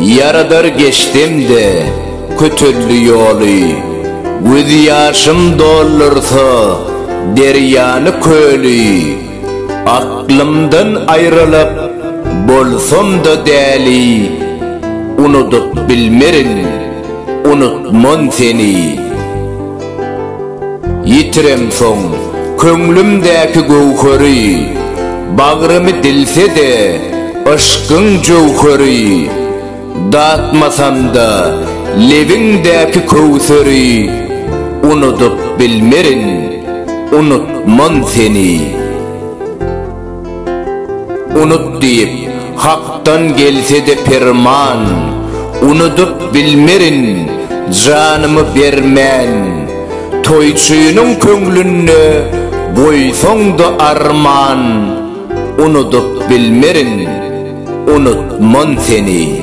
Ýaradar geçsem-de kötelli ýoly, Göz ýaşym doldursa derýany köli. Aklymdan aýrylyp bolsam-da däli, Unudyp bilmerin, unutman seni. Ýitiremsoň, köňlümdäki göwheri, Bagrymy dilse-de, yşkyň jöwheri. Datmasam-da, lebiňdäki köwseri, Unudyp bilmerin, unutman seni. Unut diýip, Hakdan gelse-de perman, Unudyp bilmerin, janymy bermän. Toýçynyň köňlünde goýsaň-da arman, Unudyp bilmerin, unutman seni.